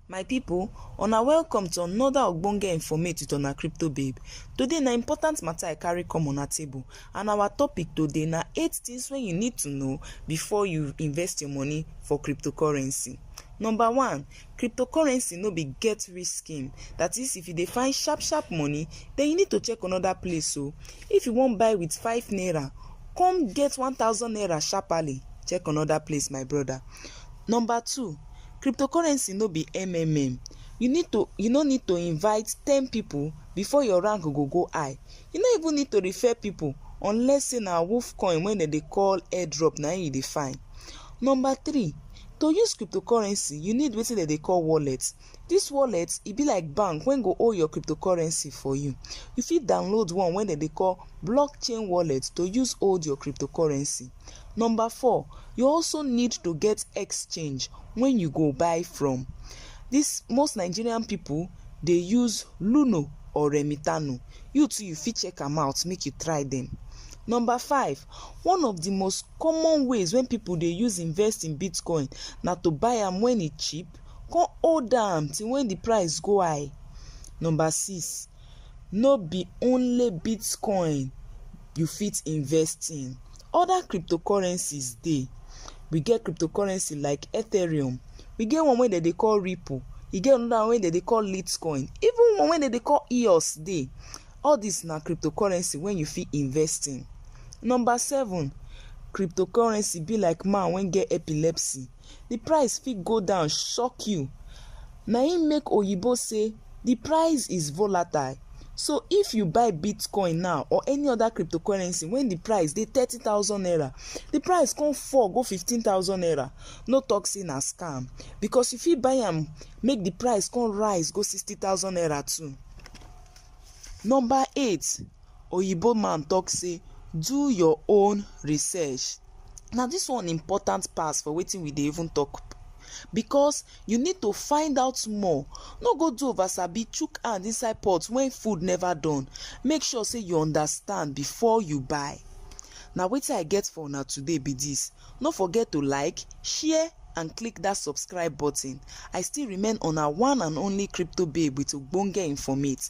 My people, una welcome to another ogbonge informate with una crypto babe. Today na important matter I carry come una table and our topic today na eight things wey you need to know before you invest your money for cryptocurrency. Number one, cryptocurrency no be get rich scheme that is if you dey find sharp sharp money then you need to check another place o. If you wan buy with five naira come get one thousand naira sharperly check another place my brother. Number two, cryptocurrency no be MMM. You need to you no need to invite ten people before your rank go go high. You no even need to refer people unless say na wolf coin wey dem dey call airdrop na im you dey find. Number three, to use cryptocurrency you need wetin dem dey call wallet. This wallet e be like bank wey go hold your cryptocurrency for you. You fit download one wey dem dey call blockchain wallet to use hold your cryptocurrency. Number four, you also need to get exchange when you go buy from. This most Nigerian people dey use Luno or Remitano. You too you fit check am out make you try them. Number five, one of the most common ways wey people dey use invest in Bitcoin na to buy am when e cheap come hold am till when the price go high. Number six, no be only Bitcoin you fit invest in. Other cryptocurrencies dey. We get cryptocurrency like Ethereum, we get one wey dem dey call Ripple, e get another one wey dem dey call Litecoin, even one wey dem dey call EOS dey. All these na cryptocurrency wey you fit invest in. Number seven, cryptocurrency be like man wey get epilepsy. the price fit go down shock you na him make oyibo say the price is volatile so if you buy bitcoin now or any other cryptocurrency when the price dey thirty thousand naira the price come fall go fifteen thousand naira no talk say na scam because you fit buy am make the price come rise go sixty thousand naira too number eight Oyibo man talk say do your own research now this one important pass for wetin we dey even talk because you need to find out more no go do over sabi chook hand inside pot when food never done make sure say you understand before you buy na wetin I get for una today be this no forget to like share and click that subscribe button I still remain una one and only crypto babe with ogbonge informate.